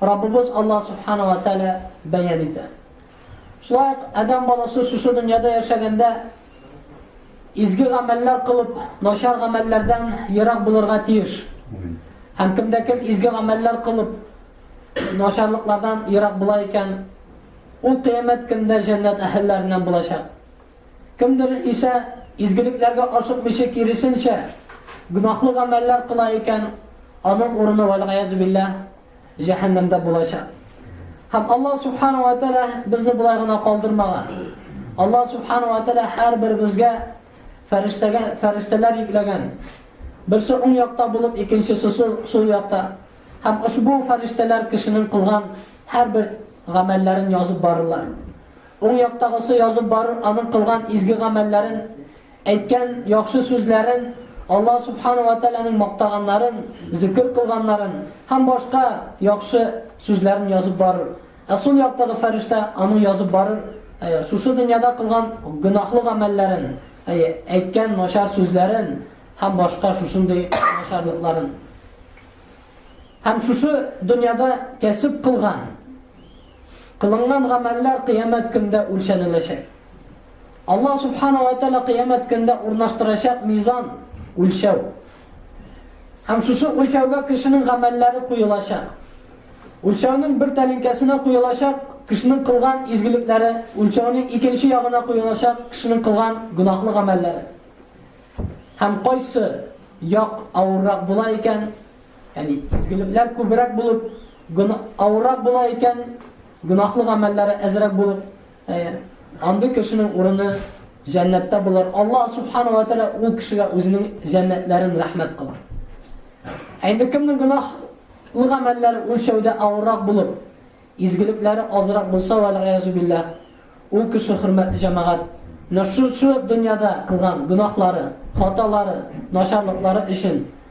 Раббыбыз Аллаһ Сүбхәнә вә Тәгалә бәян итә. Шулай ук адәм баласы шушы дөньяда яшәгәндә изге гамәлләр кылып, начар гамәлләрдән ерак булырга тиеш. Һәм кемдә кем изге гамәлләр кылып, начарлыклардан ерак була икән, ул кыямәт көндә җәннәт әһелләреннән булачак. Кемдер исә изгелекләргә ашыкмыйча киресенчә, гөнаһлы гамәлләр кыла икән, аның урыны вәлгаяз билләһ җәһәннәмдә булачак. Һәм Аллаһ Субхану ва Тәала безне болай гына калдырмаган. Аллаһ Субхану ва Тәала һәрберебезгә фәрештәгә фәрештәләр йөкләгән. Берсе уң якта булып, икенчесе сул, сул якта. Һәм ошбу фәрештәләр кешенең кылган һәрбер гамәлләрен язып барырлар. Уң яктагысы язып барыр аның кылган изге гамәлләрен, Әйткән яхшы сүзләрен, Аллаһ Субхана ва Тәгаләнең мактаганнарын, зикер кылганнарын һәм башка яхшы сүзләрен язып барыр. Ә сул яктагы фәрештә аны язып барыр, әйе, шушы дөньяда кылган гөнаһлы гамәлләрен, әйе, әйткән начар сүзләрен һәм башка шушындый начарлыкларын. Һәм шушы дөньяда кәсеп кылган, кылынган гамәлләр кыямәт көндә үлчәнеләчәк. Аллаһ Субхана ва Тәала кыямәт көндә урнаштырачак мизан, үлчәү. Һәм шушы үлчәүгә кешенең гамәлләре куелачак. Үлчәүнең бер тәлинкәсенә куелачак кешенең кылган изгелекләре, үлчәүнең икенче ягына куелачак кешенең кылган гөнаһлы гамәлләре. Һәм кайсы як авыррак була икән, яни изгелекләр күбрәк булып, авыррак була икән, гөнаһлы гамәлләре әзрәк булып, Андый кешенең урыны җәннәттә булыр. Аллаһ субхана ва тәгалә ул кешегә үзенең җәннәтләрен рәхмәт кылыр. Ә инде кемнең гөнаһлы гамәлләре үлчәүдә авыррак булып, изгелекләре азрак булса, вәлгыязу билләһ, ул кеше хөрмәтле җәмәгать, нәшүрчү дөньяда кылган гөнаһлары, хаталары, начарлыклары өчен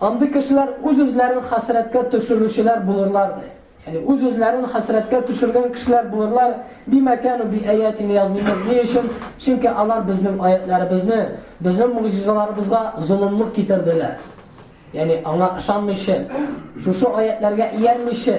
Андый кешеләр үз-үзләрен хәсрәткә төшерүчеләр булырлар ди. Ягъни үз-үзләрен хәсрәткә төшергән кешеләр булырлар, бимәкән би аятин язмыймыз. Ни өчен? Чөнки алар безнең аятларыбызны, безнең мугъҗизаларыбызга золымлык китерделәр. Ягъни аңа ышанмыйча, шушы аятларга иярмичә,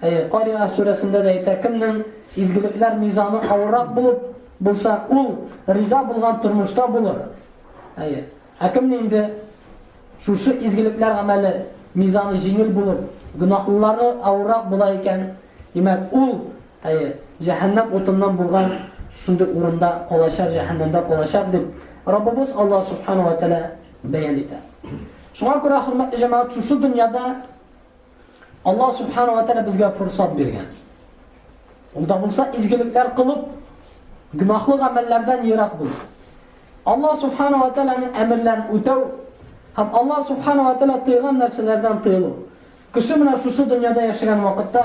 Әйе, Кариа сүрәсендә дә әйтә, кемнең изгелекләр мизаны авыррак булып булса, ул риза булган тормышта булыр. Әйе. Ә кем инде шушы изгелекләр гамәле мизаны җиңел булып, гөнаһлылары авыррак була икән, димәк, ул, әйе, җәһәннәм утыннан булган шундый урында калачак, җәһәннәмдә калачак дип Раббыбыз Аллаһ субхана ва тәгалә бәян итә. Шуңа күрә, хөрмәтле җәмәгать, шушы дөньяда Аллаһ субхана ва тәгалә безгә фурсат биргән. Ул да булса изгелекләр кылып, гөнаһлы гамәлләрдән ерак булу. Аллаһ субхана ва тәгаләнең әмерләрен үтәү һәм Аллаһ субхана ва тәгалә тыйган нәрсәләрдән тыелу. Кеше менә шушы дөньяда яшәгән вакытта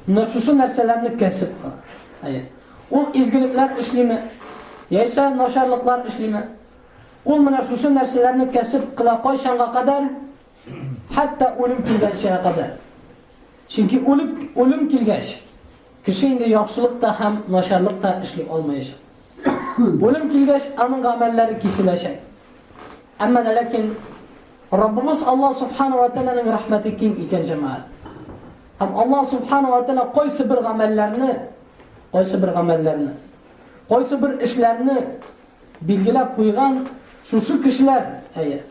менә шушы нәрсәләрне кәсеп кыла. Ул изгелекләр эшлиме? Яисә начарлыклар эшлиме? Ул менә шушы нәрсәләрне кәсеп кыла кайчанга кадәр? Хәтта үлем килгәнчә кадәр. Чөнки үлеп, үлем килгәч, кеше инде яхшылык та һәм начарлык та эшли алмаячак. Үлем килгәч, аның гамәлләре киселәчәк. Әмма дә ләкин Раббыбыз Алла субхана ва тәгаләнең рәхмәте киң икән җәмәгать. Һәм Алла субхана ва тәгалә кайсы бер гамәлләрне, кайсы бер гамәлләрне, кайсы бер эшләрне билгеләп куйган, шушы кешеләр, әйе,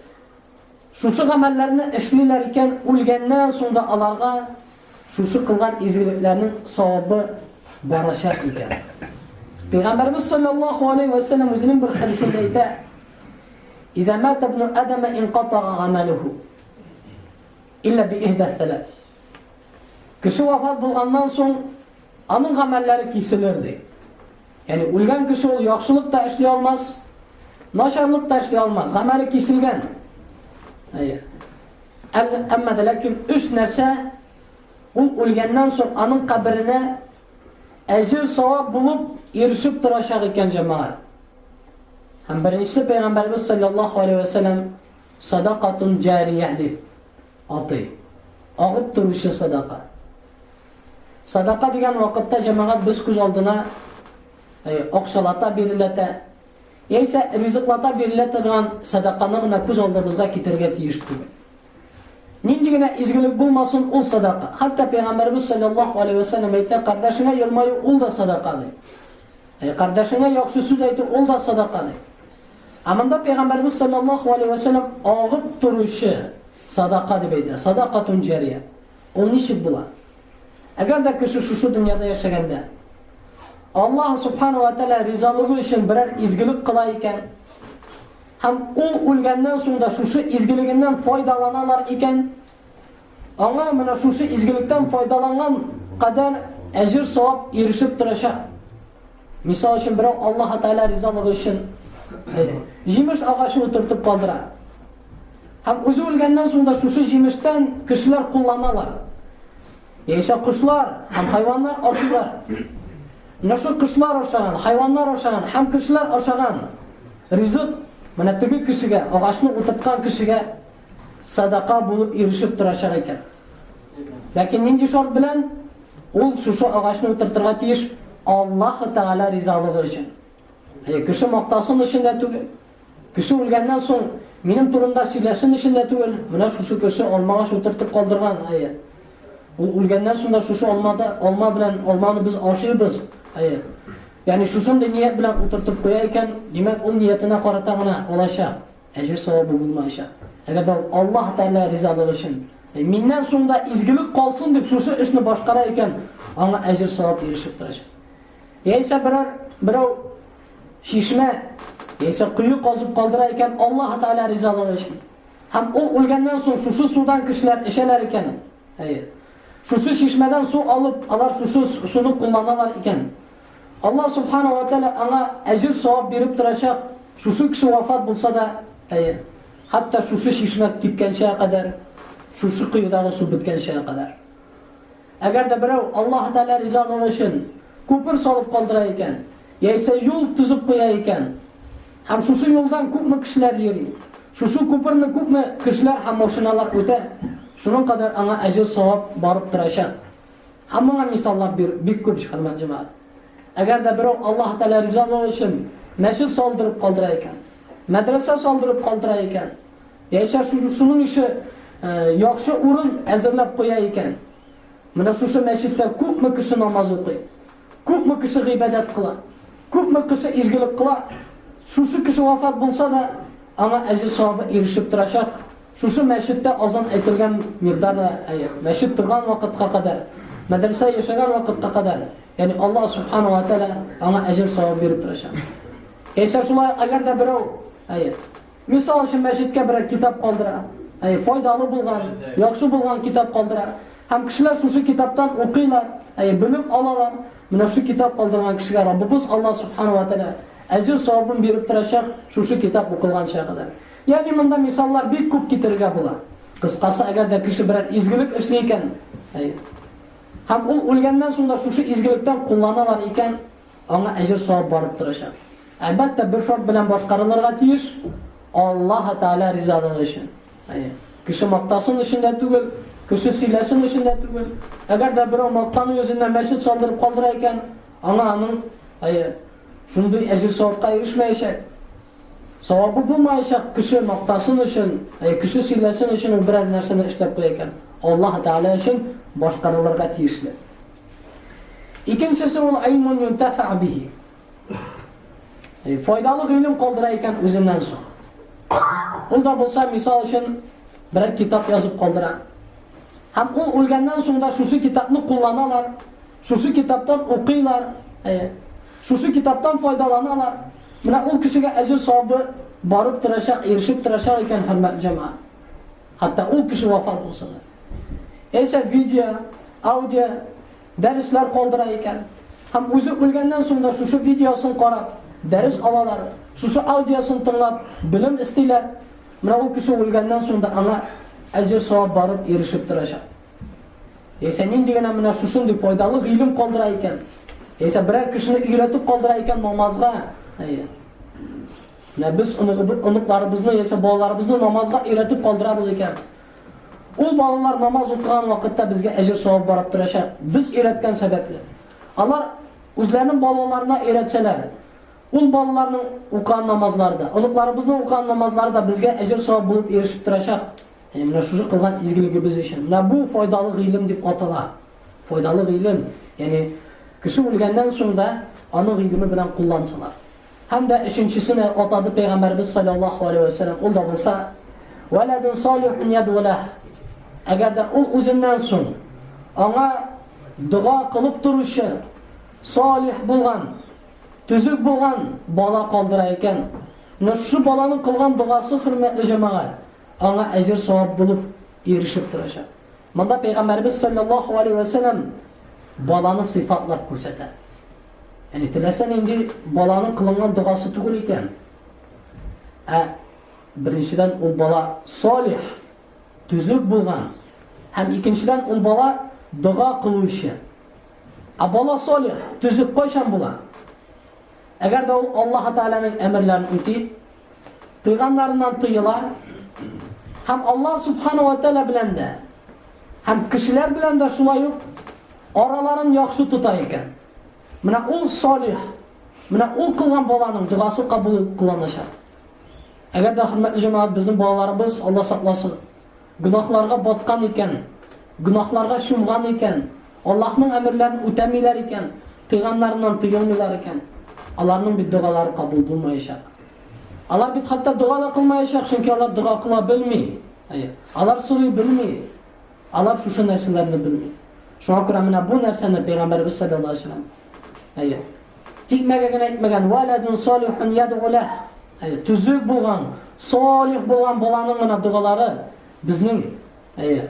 Шушы гамәлләрне эшлиләр икән, үлгәннән соң да аларга шушы кылган изгелекләрнең савабы барачак икән. Пәйгамбәрбез саллаллаһу алейһи вә сәлләм үзенең бер хәдисендә әйтә: "Иза мата ибн Адама инкатага гамалуху илля би ихда салас." Кеше вафат булганнан соң аның гамәлләре киселер ди. Яни үлгән кеше ул яхшылык та эшли алмас, начарлык та эшли алмас, гамәле киселгән. Әйе. Әмма дә ләкин өч нәрсә ул үлгәннән соң аның каберенә әҗер савап булып ирешеп торачак икән җәмәгать. Һәм беренче пәйгамбәрбез саллаллаһу алейһи ва сәлләм садакатун җария дип Атый. Агып торучы садака. Садака дигән вакытта, җәмәгать, без күз алдына акчалата биреләтә, яисә ризыклата бирелә торган садаканы гына күз алдыбызга китерергә тиеш түгел. Нинди генә изгелек булмасын, ул садака. Хәтта Пәйгамбәрбез саллаллаху алейхи ва сәлләм әйтә, кардәшеңә елмаю ул да садака ди. Ә кардәшеңә яхшы сүз әйтү ул да садака ди. Ә монда Пәйгамбәребез салләллаһу галәйһи вә сәлләм агып торучы садака дип әйтә, садакатун җәрия. Ул ничек була? Әгәр дә кеше шушы дөньяда яшәгәндә Аллаһ субхана ва тәгалә ризалыгы өчен берәр изгелек кыла икән, һәм ул үлгәннән соң да шушы изгелегеннән файдаланалар икән, Аңа менә шушы изгелектән файдаланган кадәр әҗер-савап ирешеп торачак. Мисал өчен берәү Аллаһ Тәгалә ризалыгы өчен җимеш агачы утыртып калдыра. Һәм үзе үлгәннән соң да шушы җимештән кешеләр кулланалар. Яисә кошлар һәм хайваннар ашыйлар. Менә шул кошлар ашаган, хайваннар ашаган һәм кешеләр ашаган ризык менә теге кешегә, агачны утырткан кешегә садака булып ирешеп торачак икән. Ләкин нинди шарт белән? Ул шушы агачны утыртырга тиеш Аллаһ Тәгалә ризалыгы өчен. Әйе, кеше мактасын өчен дә түгел. Кеше үлгәннән соң минем турында сөйләшен өчен дә түгел. Менә шушы кеше алмагач утыртып калдырган, әйе. Ул үлгәннән соң да шушы алмада алма белән алманы без ашыйбыз. Әйе. Ягъни шушындый ният белән утыртып куя икән, димәк, ул ниятенә карата гына алачак. Әҗер-савабы булмаячак. Әгәр дә ул Аллаһ Тәгалә ризалыгы өчен, миннән соң да изгелек калсын дип шушы эшне башкара икән, аңа әҗер-савап ирешеп торачак. Яисә берәр берәү чишмә яисә кое казып калдыра икән Аллаһ Тәгалә ризалыгы өчен. Һәм ул үлгәннән соң шушы судан кешеләр эчәләр икән. Әйе. Шушы чишмәдән су алып, алар шушы суны кулланалар икән. Аллаһ Субхана ва Тәгалә аңа әҗер-савап биреп торачак, шушы кеше вафат булса да, әйе, хәтта шушы чишмә кипкәнчә кадәр, шушы коедагы су беткәнчә кадәр. Әгәр дә берәү Аллаһ Тәгалә ризалыгы өчен күпер салып калдыра икән, яисә юл төзеп куя икән, һәм шушы юлдан күпме кешеләр йөри, шушы күперне күпме кешеләр һәм машиналар үтә, шуның кадәр аңа әҗер-савап барып торачак. Һәм моңа мисаллар бир бик күп җыханмат җәмәгать. Әгәр дә берәү Аллаһ Тәгалә ризалыгы өчен мәчет салдырып калдыра икән, мәдрәсә салдырып калдыра икән, яисә шу- шуның ише яхшы урын әзерләп куя икән, менә шушы мәчеттә күпме кеше намаз укый. Күпме кеше гыйбадәт кыла, күпме кеше изгелек кыла, шушы кеше вафат булса да, аңа әҗер-савабы ирешеп торачак. Шушы мәчеттә азан әйтелгән мирда да, мәчет торган вакытка кадәр, мәдрәсә яшәгән вакытка кадәр, ягъни Аллаһ субханаһу ва тааля аңа әҗер-саваб биреп торачак. Яисә шулай, әгәр дә берәү, әйе, Мисал өчен, мәчеткә берәр китап калдыра, әйе, файдалы булган, яхшы булган китап калдыра. Һәм кешеләр шушы китаптан укыйлар, әйе, белем алалар. Менә шушы китап калдырган кешегә Раббыбыз Аллаһ Субхана ва Тәгалә әҗер-савабын биреп торачак, шушы китап укылганча кадәр. Ягъни монда мисаллар бик күп китерергә була. Кыскасы, әгәр дә кеше берәр изгелек эшли икән, әйе, һәм ул үлгәннән соң да шушы изгелектән кулланалар икән, Аңа әҗер савап барып торачак. Әлбәттә, бер шарт белән башкарылырга тиеш, Аллаһы Тәгалә ризалыгы өчен. Әйе. Кеше мактасын өчен дә түгел, кеше сөйләсен өчен дә түгел. Әгәр дә берәү мактану йөзеннән мәчет салдырып калдыра икән, аңа аның, әйе, шундый әҗер савапка ирешмәячәк. Савабы булмаячак кеше мактасын өчен, ә кеше сөйләсен өчен ул берәр нәрсәне эшләп куя икән. Аллаһ Тәгалә өчен башкарылырга тиешле. Икенчесе ул айлмун юнтафа бихи. Э, файдалы гыйлем калдыра икән үзеннән соң. Ул да булса, мисал өчен, берәр китап язып калдыра. Һәм ул үлгәннән соң да шушы китапны кулланалар, шушы китаптан укыйлар, э, шушы китаптан файдаланалар. Менә ул кешегә әҗер сабы барып торачак, ирешеп торачак икән, хөрмәт җәмәгать. Хәтта ул кеше вафат булса да. Яисә видео, аудио, дәресләр калдыра икән. Һәм үзе үлгәннән соң да шушы видеосын карап, дәрес алалар, шушы аудиосын тыңлап, белем эстиләр. Менә ул кеше үлгәннән соң да аңа әҗер савап барып ирешеп торачак. Яисә нинди генә менә шушындый файдалы гыйлем калдыра икән. Яисә берәр кешене өйрәтеп калдыра икән намазга. Әйе. Менә без оныкларыбызны яисә балаларыбызны намазга өйрәтеп калдырабыз икән, ул балалар намаз укыган вакытта безгә әҗер-савап барып торачак, без өйрәткән сәбәпле. Алар үзләренең балаларына өйрәтсәләр, ул балаларның укыган намазлары да, оныкларыбызның укыган намазлары да безгә әҗер-савап булып ирешеп торачак. Әнә менә шушы кылган изгелегебез өчен. Менә бу файдалы гыйлем дип атала. Файдалы гыйлем, ягъни кеше үлгәннән соң да аның гыйлеме белән куллансалар. Һәм дә өченчесе дә атады пәйгамбәрбез саллаллаһу алейһи ва сәлләм, ул да булса, вәләдун салихун ядвалах. Әгәр дә ул үзеннән соң аңа дога кылып торучы салих булган, төзек булган бала калдыра икән, но шу баланың кылган догасы хөрмәтле җәмәгать аңа әҗер савап булып ирешеп торачак. Монда Пәйгамбәребез салләллаһу алейһи вә сәлләм баланы сыйфатлап күрсәтә. Яни теләсә нинди баланың кылынган догасы түгел икән. Ә беренчедән ул бала солих, төзек булган. Һәм икенчедән ул бала дога кылучы. Ә бала солих, төзек кайчан була? Әгәр дә ул Аллаһ Тәгаләнең әмерләрен үти, куйганнарыннан тыела һәм Аллаһ Субхана ва Тәлә белән дә һәм кешеләр белән дә шулай ук араларын яхшы тота икән. Менә ул салих, менә ул кылган баланың догасы кабул кылыначак. Әгәр дә хөрмәтле җәмәгать безнең балаларыбыз Алла сакласын, Гөнаһларга баткан икән, гөнаһларга чумган икән, Аллаһның әмерләрен үтәмиләр икән, тыйганнарыннан тыелмыйлар икән, аларның бит догалары кабул булмаячак. Алар бит хәтта дога да кылмаячак, чөнки алар дога кыла белми. Әйе, алар сорый белми. Алар шушы нәрсәләрне белми. Шуңа күрә менә бу нәрсәне Пәйгамбәребез саллаллаһу алейһи ва сәлләм Әйе. Тикмәгә генә әйтмәгән, валадун солихун ядгулә. Әйе, төзек булган, солих булган баланың гына дугалары безнең, әйе,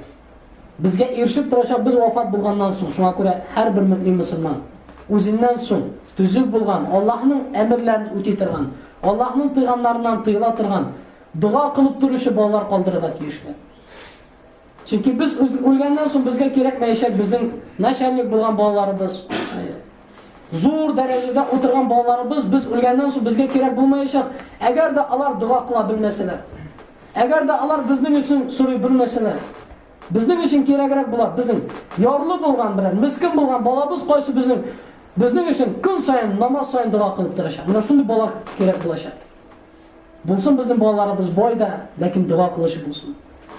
безгә ирешеп торачак без вафат булганнан соң. Шуңа күрә һәрбер мөмин мусульман үзеннән соң төзек булган, Аллаһның әмерләрен үти торган, Аллаһның пәйгамбәреннән тыела торган, дога кылып торучы балалар калдырырга тиешле. Чөнки без үлгәннән соң безгә кирәкмәячәк безнең начальник булган балаларыбыз. Зур дәрәҗәдә утырган балаларыбыз без үлгәннән соң безгә кирәк булмаячак. Әгәр дә алар дога кыла белмәсәләр. Әгәр дә алар безнең өчен сорый белмәсәләр. Безнең өчен кирәгрәк була безнең ярлы булган белән, мискин булган балабыз кайсы безнең безнең өчен көн саен намаз саен дога кылып торачак. Менә шундый бала кирәк булачак. Булсын безнең балаларыбыз бай да, ләкин дога кылучы булсын.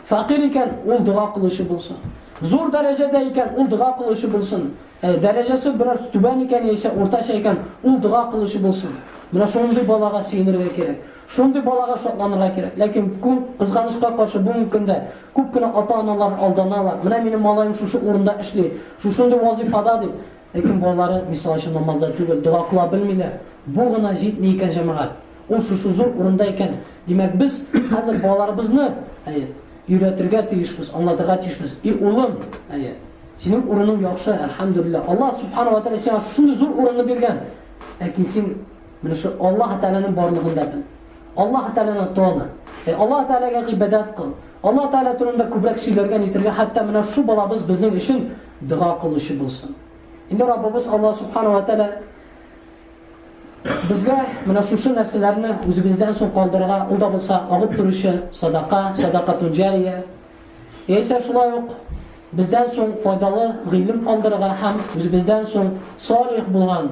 Факир икән, ул дога кылучы булсын. Зур дәрәҗәдә икән, ул дога кылучы булсын. Ә дәрәҗәсе бераз түбән икән яисә уртача икән, ул дога кылучы булсын. Менә шундый балага сөенергә кирәк. Шундый балага шатланырга кирәк. Ләкин күп кызганычка каршы бүгенге көндә күп кенә ата-аналар алданалар. Менә минем малаем шушы урында эшли, шушындый вазифада дип, Ләкин балалары, мисал өчен, намазда түгел, дога кыла белмиләр. Бу гына җитми икән, җәмәгать. Ул шушы зур урында икән. Димәк, без хәзер балаларыбызны, әйе, өйрәтергә тиешбез, аңлатырга тиешбез. И улым, әйе, синең урының яхшы, әлхәмдүлилләһ. Аллаһ Субхана ва Тәгалә сиңа шушындый зур урынны биргән. Ләкин син менә шу Аллаһ Тәгаләнең барлыгын да бел. Аллаһ Тәгаләне таны. Әй Аллаһ Тәгаләгә гыйбадәт кыл. Аллаһ Тәгалә турында күбрәк сөйләргә, нитәргә, хәтта менә шу балабыз безнең өчен дога кылучы булсын. Инде Раббыбыз Аллаһ Субхана ва Тәлә безгә менә шушы нәрсәләрне үзебездән соң калдырырга, ул да булса агып торучы садака, садака тунҗария. Яисә шулай ук бездән соң файдалы гыйлем калдырырга һәм үзебездән соң салих булган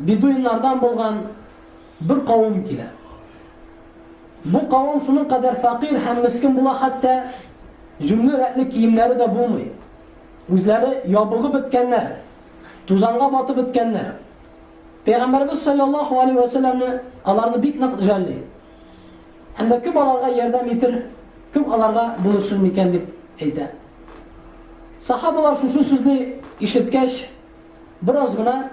бедуиннардан булган бер кавым килә. Бу кавым шуның кадәр факир һәм мискин була, хәтта җүнле рәтле киемнәре дә булмый. Үзләре ябыгып беткәннәр, тузанга батып беткәннәр. Пәйгамбәрбез саллаллаһу алейһи ва салламны аларны бик нык җәлли. Һәм дә кем аларга ярдәм итер, кем аларга булышыр микән дип әйтә. Сахабалар шушы сүзне ишеткәч, Бераз гына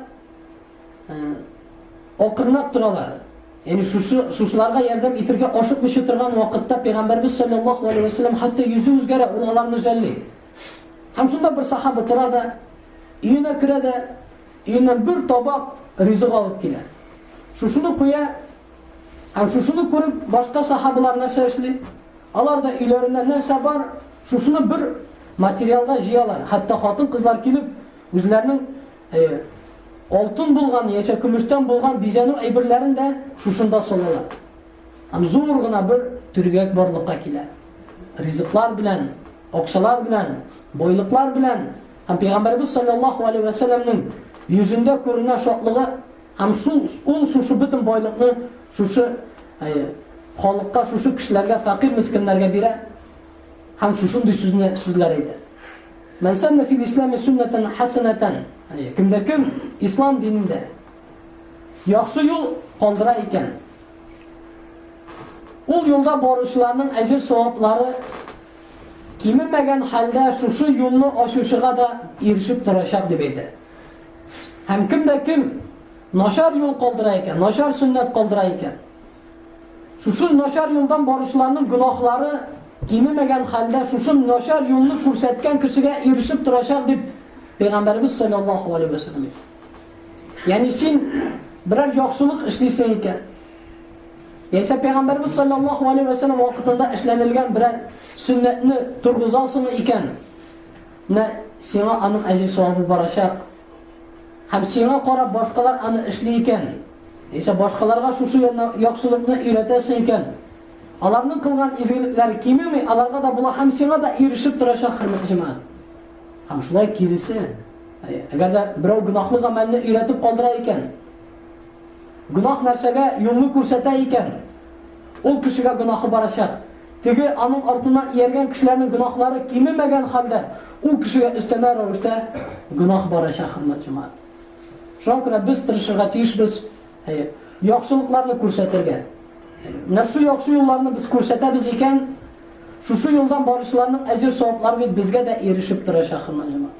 акырынлап торалар. Яни шушы шушыларга ярдәм итергә ашыкмыйча торган вакытта пәйгамбәрбез саллаллаһу алейһи ва саллям хәтта йөзе үзгәрә, ул аларны үзәлли. Һәм шунда бер сахаба тора да, өенә керә дә, өеннән бер табак ризык алып килә. Шушыны куя, һәм шушыны күреп, башка сахабалар нәрсә эшли? Алар да өйләрендә нәрсә бар, шушыны бер материалга җыялар. Хәтта хатын-кызлар килеп, Үзләренең алтын булган яисә көмештән булган бизәнү әйберләрен дә шушында салалар. Һәм зур гына бер төргәк барлыкка килә. Ризыклар белән, акчалар белән, байлыклар белән һәм Пәйгамбәрбез саллаллаһу алейһи ва сәлламның йөзендә күренгән шатлыгы һәм шул ул шушы бөтен байлыкны шушы халыкка, шушы кешеләргә, фәкыйрь мискиннәргә бирә һәм шушындый сүзне сүзләр әйтә. Мән сәннә фил ислами сөннәтән хәсәнәтән, кемдә кем ислам динендә яхшы юл калдыра икән, ул юлда баручыларның әҗер-саваплары кимемәгән хәлдә шушы юлны ачучыга да ирешеп торачак дип әйтә. Һәм кемдә кем начар юл калдыра икән, начар сөннәт калдыра икән, Шушы начар юлдан баручыларның гөнаһлары кимемәгән хәлдә шушы начар юлны күрсәткән кешегә ирешеп торачак дип Пәйгамбәребез саллаллаху алейһи ва саллям. Ягъни син берәр яхшылык эшлисең икән. Яисә Пәйгамбәребез саллаллаху алейһи ва саллям вакытында эшләнелгән берәр сөннәтне торгызасың икән, менә сиңа аның әҗе савабы барачак. Һәм сиңа карап башкалар аны эшли икән, Яисә башкаларга шушы яна- яхшылыкны өйрәтәсең икән, аларның кылган изгелекләре кимеми, аларга да була һәм сиңа да ирешеп торачак, хөрмәтле җәмәгать. Һәм шулай киресе, ә- әгәр дә берәү гөнаһлы гамәлне өйрәтеп калдыра икән, гөнаһ нәрсәгә юлны күрсәтә икән, ул кешегә гөнаһы барачак. Теге аның артыннан ияргән кешеләрнең гөнаһлары кимемәгән хәлдә, ул кешегә өстәмә рәвештә гөнаһ барачак, хөрмәтле җәмәгать. Шуңа күрә без тырышырга тиешбез, әйе, яхшылыкларны күрсәтергә. Менә шул яхшы юлларны без күрсәтәбез икән, шушы юлдан баручыларның әҗер-саваплары бит безгә дә ирешеп тора, шәхрмәҗәмәгать.